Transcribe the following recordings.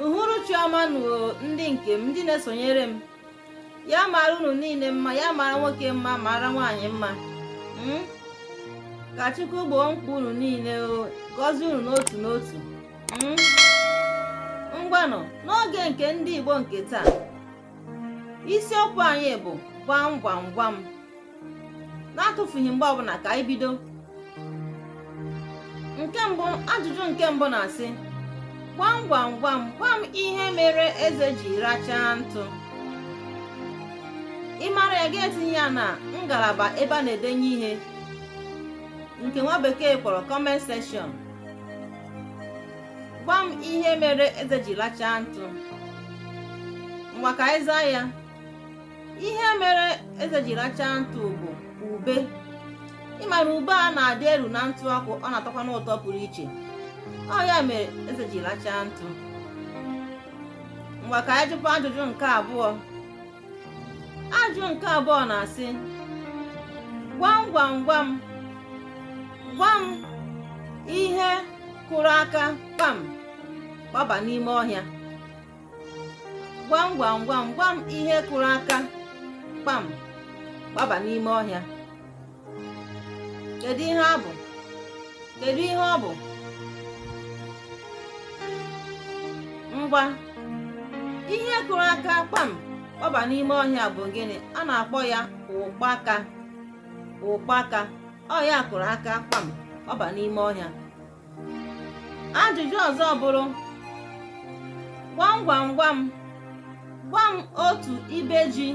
uhuruchi ọma nụ o ndị nke m ndị na-esonyere m ya mara unu niile mma ya mara nwoke mma mara nwaanyị mma hmm? ka Chukwu gboo mkpa unu niile gọzie unu n'otu n'otu hmm? ngwanụ n'oge nke ndị Igbo nke taa isiokwu anyị bụ gwam gwam gwam na-atụfughị mgbe ọbụla ka anyị bido nke mbụ ajụjụ nke mbụ na-asị gwam gwam gwam gwa m ihe mere eze ji rachaa ntụ ị mara ya gị etinye ya na ngalaba ebe a na-edenye ihe nke nwa bekee kpọrọ comment section gwa m ihe mere eze ji lachaa ntụ ngwa ka anyị zaa ya ihe mere eze ji lachaa ntụ bụ ube ị mara ube a na-adị eru na ntụ ọkụ ọ na-atọkwanụ ụtọ pụrụ iche ọ ya mere eze ji lachaa ntụ ngwa ka anyị jụkwa ajụjụ nke abụọ ajụ nke abụọ na-asị gwam gwam gwam gwa m ihe kụrụ aka kpam gbaba n'ime ọhịa gwam gwam gwam gwa m ihe kụrụ aka kpam gbaba n'ime ọhịa kedu ihe ọ bụ kedu ihe ọ bụ ngwa ihe kụrụ aka kpam kpọba n'ime ọhịa bụ gịnị a na-akpọ ya ụkpaka ụkpaka ọ ya kụrụ aka kpam kpọba n'ime ọhịa ajụjụ ọzọ bụrụ gwam gwam gwam gwa m otu ibe ji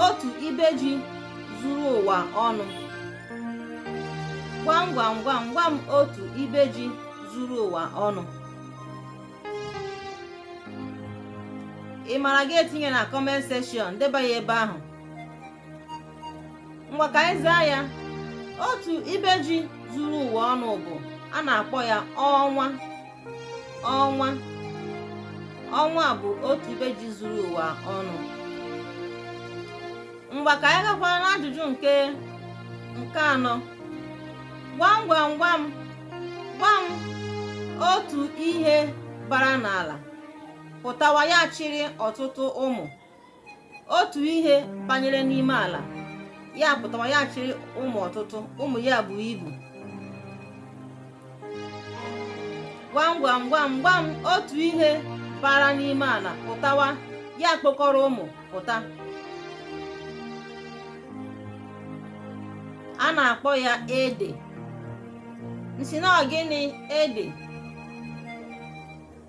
otu ibe ji zuru ụwa ọnụ gwam gwam gwam gwa m otu ibe ji zuru ụwa ọnụ ị mara gị etinye na comment section deba ya ebe ahụ ngwa ka anyị zaa ya otu ibe ji zuru ụwa ọnụ bụ a na-akpọ ya ọnwa ọnwa ọnwa bụ otu ibe ji zuru ụwa ọnụ ngwa ka anyị gakwaa n'ajụjụ nke nke anọ gwam gwam gwam gwa m otu ihe bara n'ala pụtawa ya achịrị ọtụtụ ụmụ otu ihe banyere n'ime ala ya pụtawa ya chịrị ụmụ ọtụtụ ụmụ ya buo ibu gwam gwam gwam gwam otu ihe bara n'ime ala pụtawa ya kpokọrọ ụmụ pụta a na-akpọ ya ede m sị na ọ gịnị ede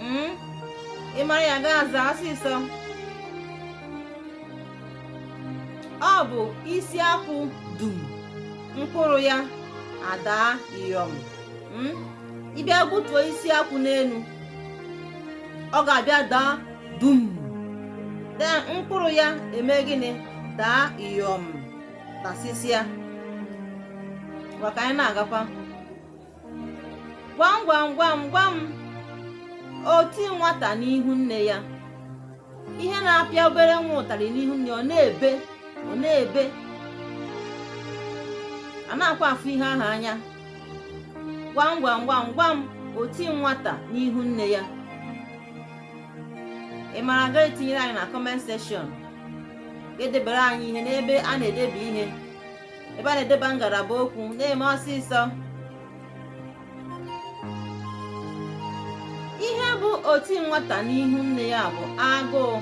hmm? ị mara ya gaa zaa ọsịsọ ọ bụ isi akwụ dum mkpụrụ ya adaa yọm hmm? ị bịa gbutuo isi akwụ n'elu ọ ga-abịa daa dum then mkpụrụ ya eme gịnị daa yọm tasịsịa ngwa ka anyị na-agakwa gwam gwam gwam gwam oti nwata n'ihu nne ya ihe na-apịa obere nwa ụtarị n'ihu nne ọ na-ebe ọ na-ebe a na-akwa afụ ihe ahụ anya gwam gwam gwam gwam oti nwata n'ihu nne ya ị mara ga etinyere anyị na comment section ga-edebere anyị ihe n'ebe a na-edebe ihe ebe a na-edeba ngalaba okwu na-eme ọsịsọ ihe bụ oti nwata n'ihu nne ya bụ agụụ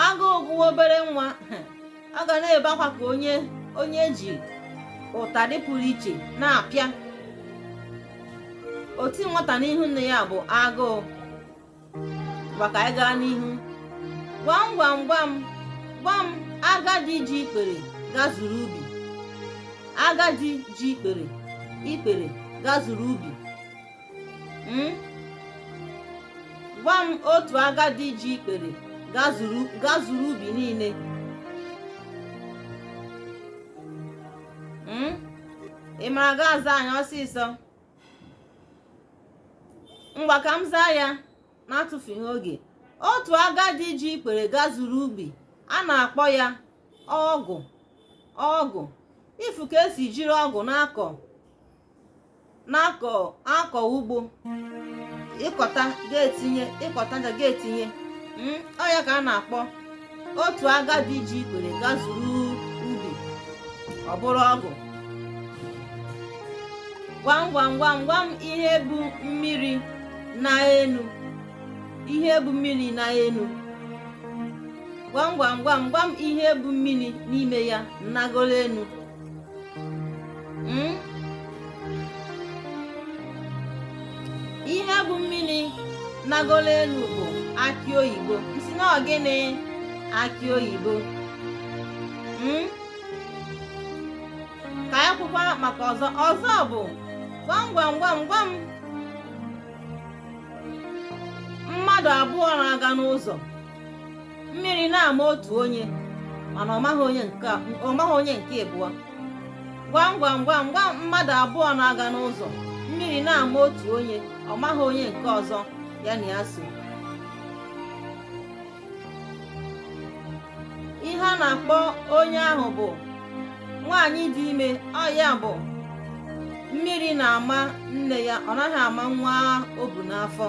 agụụ gụwa obere nwa ọ ga na-ebe akwa ka onye onye e ji ụtarị pụrụ iche na-apịa oti nwata n'ihu nne ya bụ agụụ ngwa ka anyị gaa n'ihu gwam gwam gwam gwam agadi ji ikpere gazuru ubi agadi ji ikpere ikpere gazuru ubi hmm? gwa m otu agadi ji ikpere gazuru ubi niile hmm? ị mara ga aza anyị ọsịsọ ngwa ka m zaa ya n'atụfughị oge otu agadi ji ikpere gazuru ubi a na-akpọ ya ọgụ ọgụ ị fụ ka e si jiri ọgụ na-akọ ugbo ị kọta ga-etinye ị kọta ga-etinye hmm, ọ ya ka a na-akpọ otu agadi ji ikpere gazuru ubi ọ bụrụ ọgụ gwam gwam gwam gwam ihe bu mmiri naa enu ihe bu mmiri naa enu gwam gwam gwam gwam ihe bu mmiri n'ime ya nagoro enu hmm? ihe bụ mmiri nagolo elu bụ akị oyibo m sị na ọ gịnị akị oyibo hmm? ka anyị kwukwa maka ọzọ ọzọ bụ gwam gwam gwam gwam mmadụ abụọ na-aga n'ụzọ mmiri na-ama otu onye mana ọ maghị onye nke ịbụọ gwam gwam gwam gwam mmadụ abụọ na-aga n'ụzọ mmiri na-ama otu onye ọ maghị onye nke ọzọ ya na ya so ihe a na-akpọ onye ahụ bụ nwaanyị dị ime ọ ya bụ mmiri na-ama nne ya ọ naghị ama nwa o bu n'afọ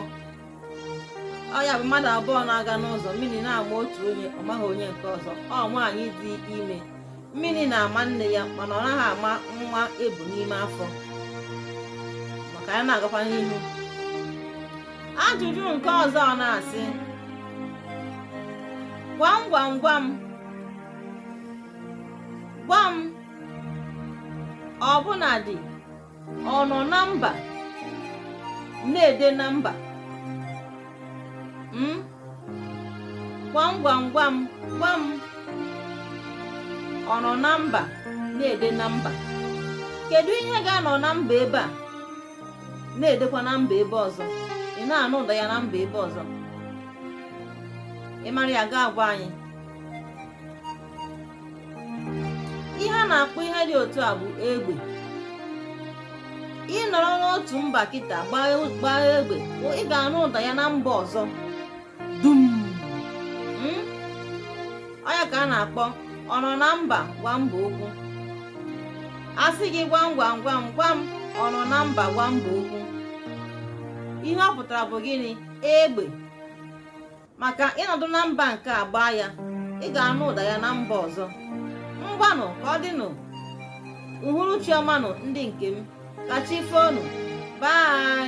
ọ ya bụ mmadụ abụọ na-aga n'ụzọ mmiri na-ama otu onye ọ maghị onye nke ọzọ ọ nwaanyị dị ime mmiri na-ama nne ya mana ọ naghị ama nwa e bu n'ime afọ ma ka anyị na-agakwa n'ihu ajụjụ nke ọzọ ọ na-asị gwam gwam gwam gwam ọbụnadị ọ nọ na mba na-ede na mba hmm? gwam gwam gwam gwam ọ nọ na mba na-ede na mba kedu ihe ga-anọ na mba ebe a na-edekwa na mba ebe ọzọ ị na-anụ ụda ya na mba ebe ọzọ ị mara ya ga-agwa anyị ihe a na-akpọ ihe dị otu a bụ egbe ị nọrọ n'otu mba kịta gbaa egbe ị ga-anụ ụda ya na mba ọzọ dum hmm? ọ ya ka a na-akpọ ọ nọ na mba gwa mba okwu a sị gị gwam gwam gwam gwam ọ nọ na mba gwa mba okwu ihe ọ pụtara bụ gịnị egbe maka ị nọdụ na mba nke a gbaa ya ị ga-anụ ụda ya na mba ọzọ ngwanụ ka ọ dịnụ uhuruchi ọmanụ ndị nke m ka chi foonụ bye